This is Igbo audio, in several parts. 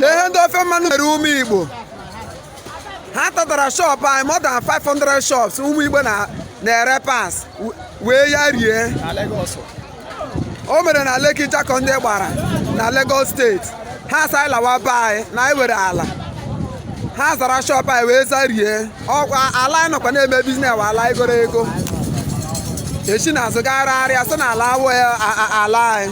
lee ihe ndị ofe mmanụ mere ụmụ igbo ha tatara shọpụ anyị more than 500 shops ụmụ igbo na-ere parts wee ya rie o mere na Lekki Jakande Gbara na Lagos steeti ha sị anyị lawa be anyị na anyị were ala ha zara shọpụ anyị wee zarie ọkwa ala anyị nọkwa na-eme biznes wụ ala e goro ego esi n'azụ gharịa sị na ala awụ ala anyị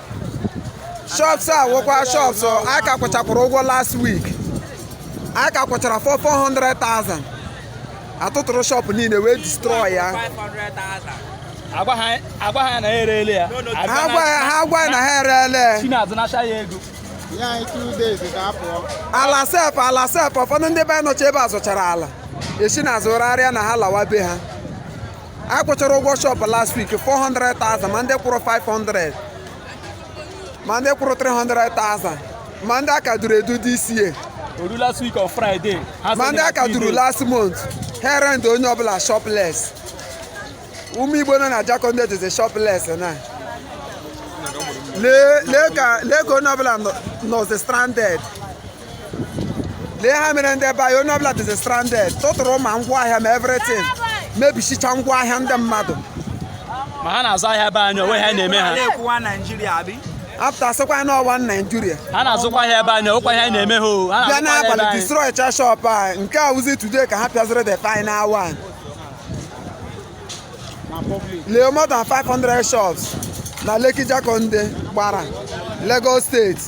shops a wụkwa shops anyị ka kwụchakwara ụgwọ last week anyị ka kwụchara 400,000 atụtụrụ shop niile wee destroy ya agwa ha agwa anyị na ha ereele ya ha gwa ya ha gwa ya na ha ereele chinazụ nacha ya ego nye anyị two days ka anyị pụọ. ala sef ala sef ụfọdụ ndị be anyị nọcha ebe a zụchara ala esi n'azụ gharịa na ha lawa be ha anyị kwụchara ụgwọ shọpụ last week 400,000 ma ndị kwụrụ 500 ma ndị kwụrụ 300,000 ma ndị aka duru edu this year oru last week on friday ha ma sị ndị na aka duru Tuesday. last month ha rent onye ọbụla shopless ụmụ igbo nọ na Jakande dịzi shopless na lee lee ka lee ka onye ọbụla nọ- nọzi stranded lee ihe ha mere ndị be anyị onye ọbụla dịzi stranded tụtụrụ ma ngwa ahịa ma everything mebichicha ngwa ahịa ndị mmadụ ma ha na-azụ ahịa be anyị onwe ha na-eme ha na-ekwu one naijiria abịa pụta sịkwa na ọ one naijiria ha na-azụkwa ahịa be anyị o nwekwa ihe anyị na-eme ha o ha bịa na-azụkwa ahịa be n'abalị anyị destroy cha shop a nke a wụzi today ka ha pịaziri the final one lee more than 500 shops na Lekki Jakande Gbara Lagos steeti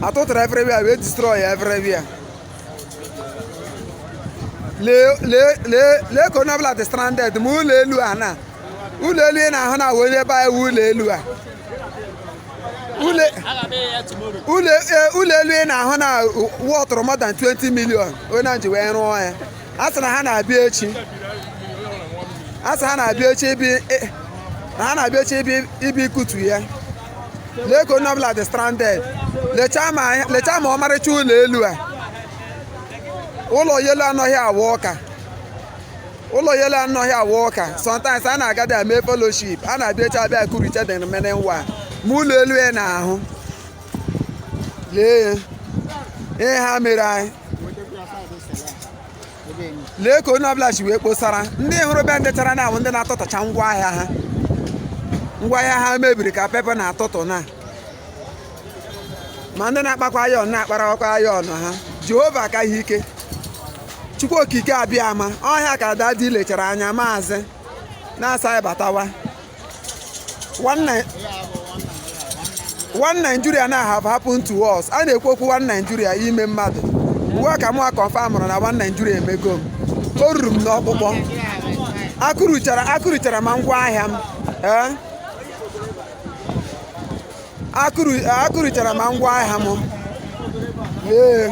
atụtụrụ everywhere wee destroy everywhere lee lee lee lee ka onye ọbụla dị stranded ma ụlọ elu a na ụlọ elu ị na-ahụ na onye be anyị ụlọ elu a ụlọ elu ị na-ahụ na wọtụrụ more than 20 million onye ji wee rụọ ya a sị na ha na-abịa echi a sị ha na-abịa echi ibi i- na ha na-abịa echi ibi ịbịa ịkụtu ya lee ka onye ọbụla dị stranded lechaa ma ihe- lechaa ma ọmarịcha ụlọ elu a ụlọ elu a nọ here wụ ụka ụlọ elu a nọ here wụ ụka sometimes a na-aga dị eme fellowship ha na-abịa echi abịa kụricha the remaining one ma ụlọ elu a ị na-ahụ lee ya ihe ha mere anyị lee ka onye ọbụla si wee kposara ndị hụrụ be ndị chara n'anwụ ndị na-atụtacha ngwa ahịa ha ngwa ahịa ha mebiri ka pepa na-atụtụ na ma ndị na-akpakwa ayọn na-akparakwa ayọn ha jehova ka ihe ike chukwu okike abịama ọ ihe a ka dadi lechara anya maazị na-asị anyị batawa one Nigeria na have happened to us a na-ekwu okwu one Nigeria ime mmadụ ugbu a ka mụwa confirmrụ na one Nigeria emego m o ruru m n'ọkpụkpụ akụrụchara akụrụchara ma ngwa ahịa m ee eh? akụrụchara ma ngwa ahịa m ee eh?